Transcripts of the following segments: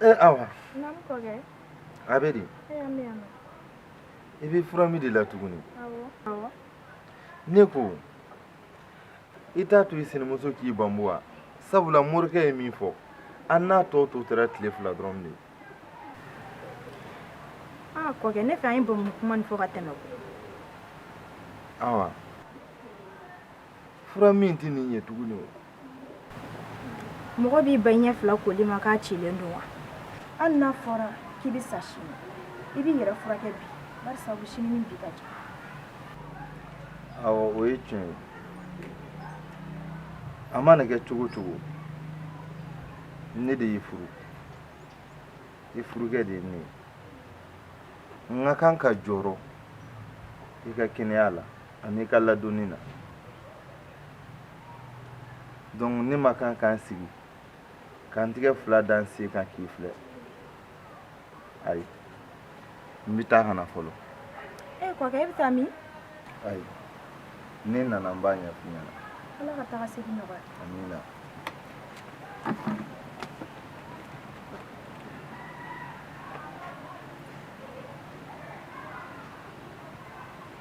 ee awa a bɛ di i bɛ fura min de la tuguni ne ko i t'a to i sinamuso k'i banbu wa sabula morikɛ ye min fɔ an n'a tɔ tun tora tile fila dɔrɔn de aa kɔkɛ ne fɛ an ye bamu kuma nin fɔ ka tɛmɛ awa fura min tɛ nin ɲɛ tuguni wa mɔgɔ b'i ban ɲɛ fila koli ma k'a cilen don wa hali n'a fɔra k'i bɛ sa sini i b'i yɛrɛ furakɛ bi bari sabu sini ni bi ka jan awɔ o ye tiɲɛ ye a mana kɛ cogo o cogo ne de y'i furu i furukɛ de ye ne ye n ka kan ka jɔrɔ i ka kɛnɛya la ani i ka ladonni na donc ne ma kan ka n sigi ka n tigɛ fila da n sen kan k'i filɛ ayi n bɛ taa ka na fɔlɔ e kɔkɛ e bɛ taa min ayi ni n nana n b'a ɲɛf'i ɲɛna ala ka taga segin nɔgɔya amina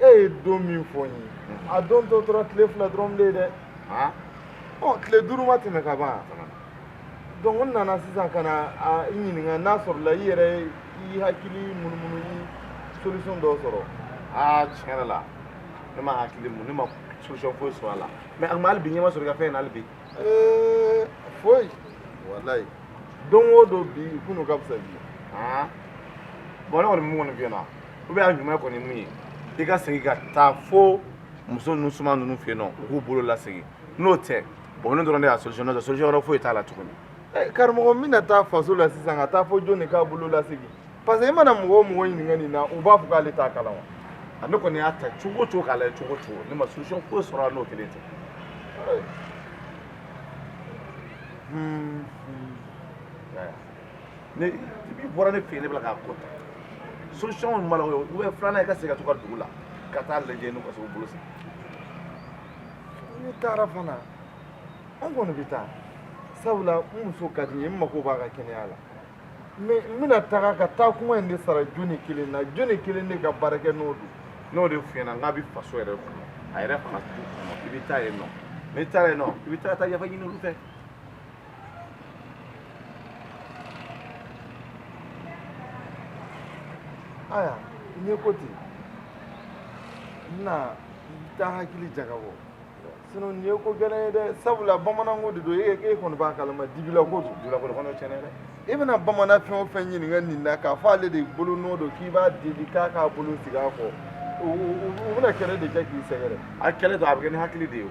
e ye don min fɔ n ye a don tɔ tora tile fila dɔrɔn de ye dɛ ɔ tile duuru ma tɛmɛ ka ban donc n nana sisan ka na a ɲininka n'a sɔrɔla i yɛrɛ i hakili munumunu i solution dɔw sɔrɔ aa tiɲɛ yɛrɛ la ne ma hakili mun ne ma solution foyi sɔrɔ a la mais a tun bɛ hali bi ɲɛ ma sɔrɔ i ka fɛn in na hali bi foyi walayi don o don bi kunun ka fisa bi bon ne kɔni min kɔni f'i ɲɛna o bɛɛ la ɲuman kɔni min ye i ka segin ka taa fo muso ninnu soma ninnu fɛ yen nɔ u k'u bolo lasegin n'o tɛ bon nin dɔrɔn de y'a solution n'o tɛ solution wɛrɛ foyi t'a la tuguni eh, karamɔgɔ n bɛna taa faso la sisan ka taa fɔ jɔn de k'a bolo lasegin parce que i mana mɔgɔ o mɔgɔ ɲininka nin na u b'a fɔ k'ale t'a kalan wa ne kɔni y'a ta cogo cogo k'a lajɛ cogo cogo ne ma solution foyi sɔrɔ a n'o kelen tɛ hmm. hmm. ne i bɔra ne fɛ yen ne bɛ k'a ko ta solution kɔni b'a la o ye filanan i ka segin ka taa i ka dugu la ka taa lajɛ n'u ka se k'u bolo segin n'i taara fana n kɔni bɛ taa sabula n muso ka di n ye n mako b'a ka kɛnɛya la mais n bɛna taga ka taa kuma in de sara jɔni kelen na jɔni kelen de ka baara kɛlen don n y'o de f'i ɲɛna n k'a bɛ faso yɛrɛ kɔnɔ a yɛrɛ fana i bɛ taa yen nɔ n'i taara yen nɔ i bɛ taa taa yafa ɲini olu fɛ aya n ye ko ten n na n ta hakili jagabɔ sinon nin ye ko gɛlɛn ye dɛ sabula bamananko de don e e kɔni b'a kalama dibila ko don dibila ko kɔni tiɲɛ na dɛ i bɛna bamanan fɛn o fɛn ɲininka nin na k'a fɔ ale de bolo nɔ don k'i b'a deli k'a k'a bolo sigi a kɔ u bɛna kɛlɛ de kɛ k'i sɛgɛrɛ a kɛlɛ dun a bɛ kɛ ni hakili de ye o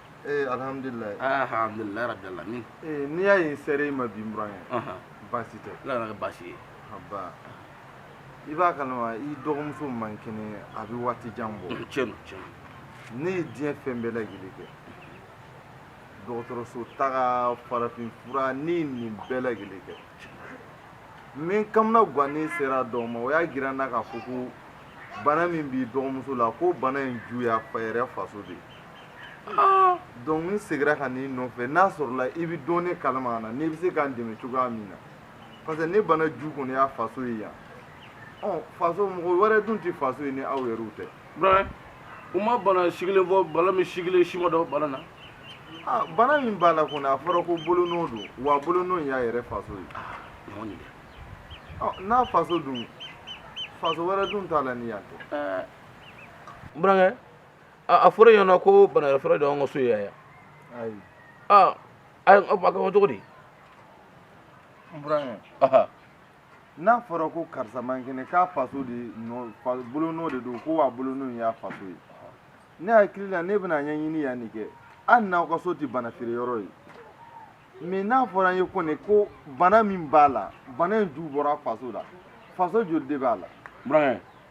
ee alihamudulilayi aa alihamudulilayi rabi alamin ee n'i y'a ye n sera i ma bi n buran ye ɔhɔn baasi tɛ ala kan'a kɛ baasi ye aba i b'a kalama i dɔgɔmuso man kɛnɛ a bɛ waati jan bɔ tiɲɛ don tiɲɛ don ne ye diɲɛ fɛn bɛɛ lajɛlen kɛ dɔgɔtɔrɔso taga farafin fura ne ye nin bɛɛ lajɛlen kɛ n bɛ n kamanagan ne sera dɔw ma u y'a jira n na k'a fɔ ko bana min b'i dɔgɔmuso la ko bana in ju y'a fa yɛrɛ faso de ye Donc n seginna ka n'i nɔfɛ n'a sɔrɔla i bɛ dɔɔnin kalama a na n'i bɛ se k'an dɛmɛ cogoya min na parce que ni bana ju kɔni y'a faso ye yan faso mɔgɔ wɛrɛ dun tɛ faso ye ni aw yɛrɛ tɛ burankɛ u ma bana sigilen fɔ bala min sigilen sima dɔ bala na bana min b'a la kɔni a fɔra ko bolo nɔ don wa bolo nɔ y'a yɛrɛ faso ye n'a faso dun faso wɛrɛ dun t'a la ni yan tɛ a fɔra yen nɔ ko bana feere yɔrɔ de y'anw ka so ye yan aa a ka kan cogo di n burankɛ n'a fɔra ko karisa man kɛnɛ k'a faso de bolonɔ de don ko wa bolonɔ y'a faso ye ne hakili la ne bɛn'a ɲɛɲini yan nin kɛ hali n'aw ka so tɛ bana feere yɔrɔ ye mais n'a fɔra n ye kɔni ko bana min b'a la bana in ju bɔra faso la faso joli de b'a la burankɛ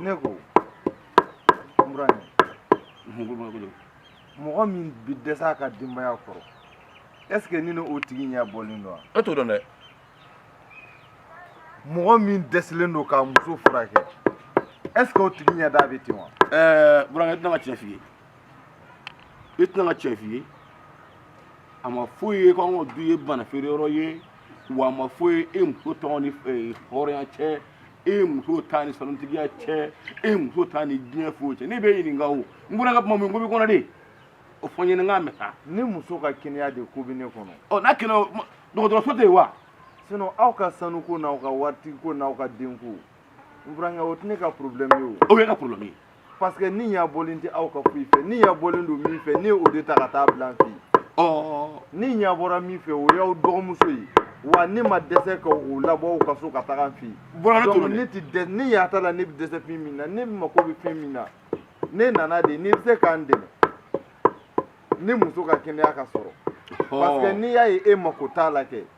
ne ko burankɛ mɔgɔ min bi dɛsɛ a ka denbaya kɔrɔ est ce que ni ni o tigi ɲɛ bɔlen don wa e t'o dɔn dɛ mɔgɔ min dɛsɛlen don k'a muso furakɛ est ce que o tigi ɲɛda bɛ ten wa ɛɛ burankɛ i tɛ na n ka tiɲɛ f'i ye i tɛ na n ka tiɲɛ f'i ye a ma fɔ i ye ko an ka du ye bana feere yɔrɔ ye wa a ma fɔ i ye e muso t'a ni hɔrɔnya cɛ e muso t'a ni sanutigiya cɛ e muso t'a ni diɲɛ foyi cɛ ne b'i ɲininka o n burankɛ kuma min ko b'i kɔnɔ de o fɔ n ɲɛna n k'a mɛn sa ne muso ka kɛnɛya de ko bɛ ne kɔnɔ ɔ n'a kɛnɛ dɔgɔtɔrɔso tɛ yen wa sinon aw ka sanuko n'aw ka waritigi ko n'aw ka denko n burankɛ o tɛ ne ka problème ye o o y'e ka problème ye parce que ne ɲa bɔlen tɛ aw ka foyi fɛ ne ɲa bɔlen don min fɛ ne ye o de ta ka taa bila an fɛ yen ɔ ne ɲa bɔra min fɛ o y'aw dɔgɔmuso ye wa ne ma dɛsɛ ka o labɔ aw ka so ka taga an fɛ yen Bɔra ne donc tolo dɛ. ne tɛ dɛsɛ ni y'a ta la ne bɛ dɛsɛ fɛn min na ne mako bɛ fɛn min na ne nana de n'i bɛ se k'an dɛmɛ ne muso ka kɛnɛya ka sɔrɔ parce que n'i y'a ye e mako t'a la kɛ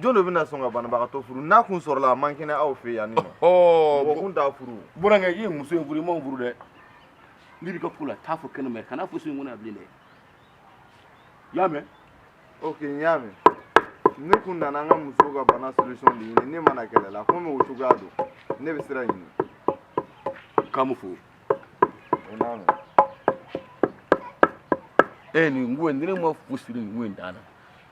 jɔn de bɛna sɔn ka banabagatɔ furu n'a kun sɔrɔla a man kɛnɛ aw fɛ yan nin nɔ mɔgɔ kun t'a furu burankɛ i ye muso in furu i m'o furu dɛ n'i bɛ ka ko la taa fɔ kɛnɛ ma kana fɔ so in kɔnɔ yan bilen dɛ i y'a mɛn ok n y'a mɛn ne kun nana an ka muso ka bana solution de ɲini ne ma na kɛlɛ la komi o cogoya don ne bɛ sira ɲini k'a mu fo o n'a mɛn e nin ko in ni ne ma fo siri nin ko in dan na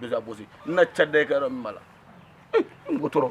déjà bosi n na ca dɛ kɛyɔrɔ min b'a la n ko tɔɔrɔ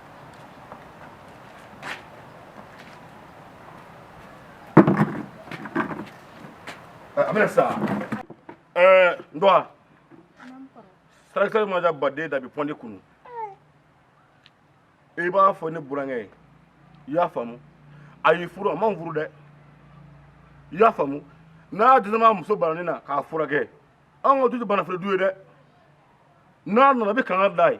a bɛna sa ɛɛ n dɔgɔ sarakisɛ ma da baden da bɛ pɔndi kunu i b'a fɔ ne burankɛ ye i y'a faamu a y'i furu a m'an furu dɛ i y'a faamu n'a dɛsɛra a muso bananin na k'a furakɛ an ka du tɛ banafili du ye dɛ n'a nana a bɛ kanga da ye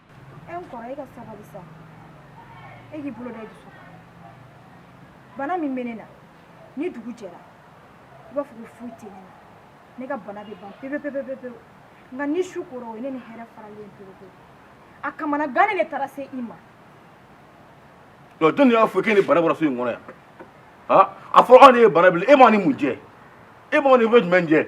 e n kɔrɔ e ka sabali sa e k'i bolo da i dusu bana min bɛ ne na ni dugu jɛra i b'a fɔ ko foyi tɛ ne na ne ka bana bɛ ban pepe pepe pepe nka ni su kora o ye ne ni hɛrɛ faralen pepe pepe a kamana gannen de taara se i ma jɔn de y'a fɔ k'e ni bana bɔra so in kɔnɔ yan a fɔ anw de ye bana bila e b'a ni mun jɛ e b'aw ni fɛn jumɛn jɛ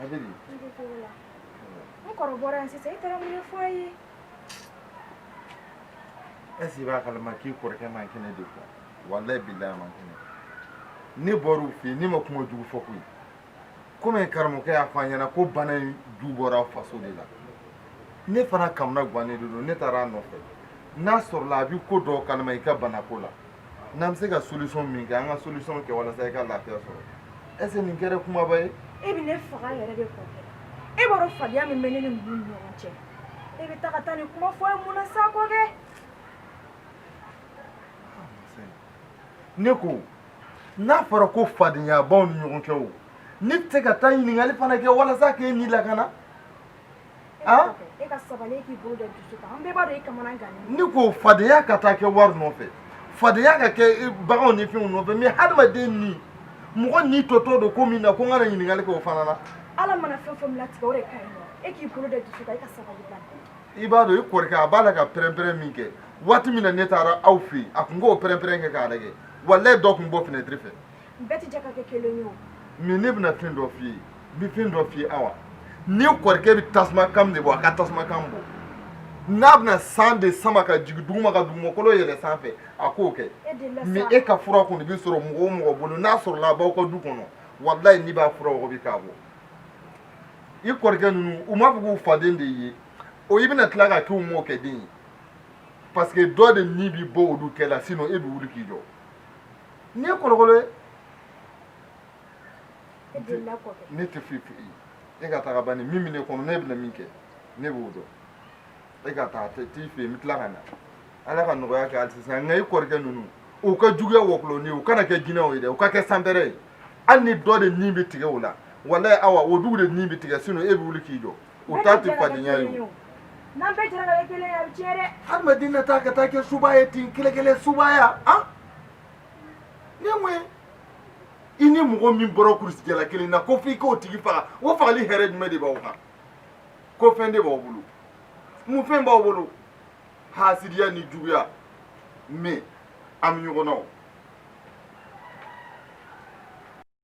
A bɛ di? I bɛ togo la. N kɔrɔ bɔra yan sisan i taara mun de fɔ a ye? Est ce que i b'a kalama k'i kɔrɔkɛ man kɛnɛ de quoi? Walayi bilahi a man kɛnɛ. Ne bɔr'aw fɛ yen ne ma kuma jugu fɔ koyi. Komi karamɔgɔkɛ y'a fɔ an ɲɛna ko bana in ju bɔra aw faso de la. Ne fana kamana gannen de don ne taara a nɔfɛ. N'a sɔrɔla a bɛ ko dɔw kalama i ka banako la. n'an bɛ se ka solution min kɛ an ka solution kɛ walasa i ka lafiya sɔrɔ est ce que nin kɛra kumaba ye. e bɛ ne faga yɛrɛ de kɔ kɛ e b'a dɔn fadenya min bɛ ne ni ninnu ni ɲɔgɔn cɛ e bɛ taa ka taa nin kuma fɔ a ye mun na sa kɔ kɛ. ne ko n'a fɔra ko fadenya b'aw ni ɲɔgɔn cɛ o ne tɛ se ka taa ɲininkali fana kɛ walasa k'e ni lakana. e ka sabali e k'i bolo da dusu kan an bɛɛ b'a dɔn e kamana gannen don ne ko fadenya ka taa kɛ wari nɔfɛ fadenya ka kɛ baganw ni fɛnw nɔfɛ mais hadamaden ni mɔgɔ ni tɔtɔ don ko min na ko n kana ɲininkali kɛ o fana na ala mana fɛn fɛn latigɛ o de ka ɲi nɔ e k'i bolo da dusu kan e ka sabali ban i b'a dɔn i kɔrɔkɛ a b'a la ka pɛrɛnpɛrɛn min kɛ waati min na ne taara aw fɛ yen a tun k'o pɛrɛnpɛrɛn kɛ k'a lajɛ walayi dɔ tun bɔ fenɛtiri fɛ bɛɛ tɛ jɛ ka kɛ kelen ye o min ne bɛna fɛn dɔ f'i ye n bɛ fɛn dɔ f'i ye awa n'i kɔrɔkɛ bɛ tasuma kan de bɔ a ka tasuma kan bɔ n'a bɛna san de sama ka jigin duguma ka dugumakolo yɛlɛ sanfɛ a k'o kɛ mais e ka fura kɔni bɛ sɔrɔ mɔgɔ o mɔgɔ bolo n'a sɔrɔla a b'aw ka du kɔnɔ walayi ne b'a fura wɔgɔbɛ k'a bɔ i kɔrɔkɛ ninnu u m'a fɔ k'u faden de ye o i bɛna tila ka k'u mɔkɛ den ye parce que dɔ de ni bɛ bɔ olu cɛ la sinon e bɛ wuli k'i jɔ n'i ye kolokolo ye ne tɛ foyi fɔ e ka taga bani min bɛ ne kɔnɔ ne bɛna min kɛ ne b'o dɔn e ka taa tɛ t'i fɛ yen n bɛ tila ka na ala ka nɔgɔya kɛ hali sisan nka i kɔrɔkɛ ninnu u ka juguya wɔkulɔni u kana kɛ jinɛw ye dɛ u ka kɛ sanpɛrɛn ye hali ni dɔ de ni bɛ tigɛ o la walayi awa o dugu de ni bɛ tigɛ sinon e bɛ wuli k'i jɔ o ta tɛ fadenya ye o n'an bɛɛ jɛra ka kɛ kelen ye a bɛ tiɲɛ dɛ hadamaden na taa ka taa kɛ suba ye ten kɛlɛkɛlɛ subaya nin ye mun ye i ni mɔgɔ min bɔra kurusijala kelen na ko f'i k'o tigi faga o fagali hɛrɛ jumɛn de b'aw kan ko fɛn de b'aw bolo mun fɛn b'aw bolo hasidiya ni juguya mais an bɛ ɲɔgɔn na o